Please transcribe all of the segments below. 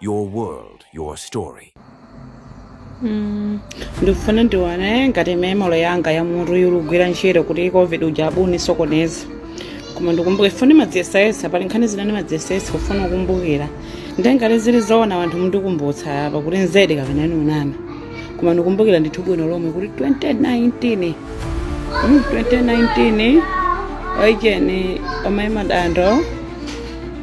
Your world, your story. ndikufuna ndione ngati memory yanga ya mutu ilugwira ntchito kuti covid uja sanandisokoneze koma ndikumbuke ndimadziyesayesa pali nkhani zina ndimadziyesayesa kufuna kukumbukira ndi ngati zili zoona wanthu mundikumbutsa apa kuti nzedi kapena ndunama koma ndikumbukira ndithu bwino lomwe kuti 2019 mm, 2019 a Cheni amaimbidwa madando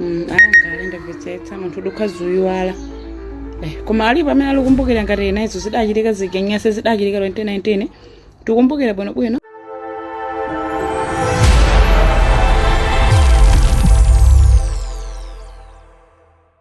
Mm, ankalenda mvetsetsa munthu utha kuziyiwala eh, koma alipo amene akukumbukira ngati zinazo zidachitika zigenyase zidachitika 2019 tikumbukira bwinobwino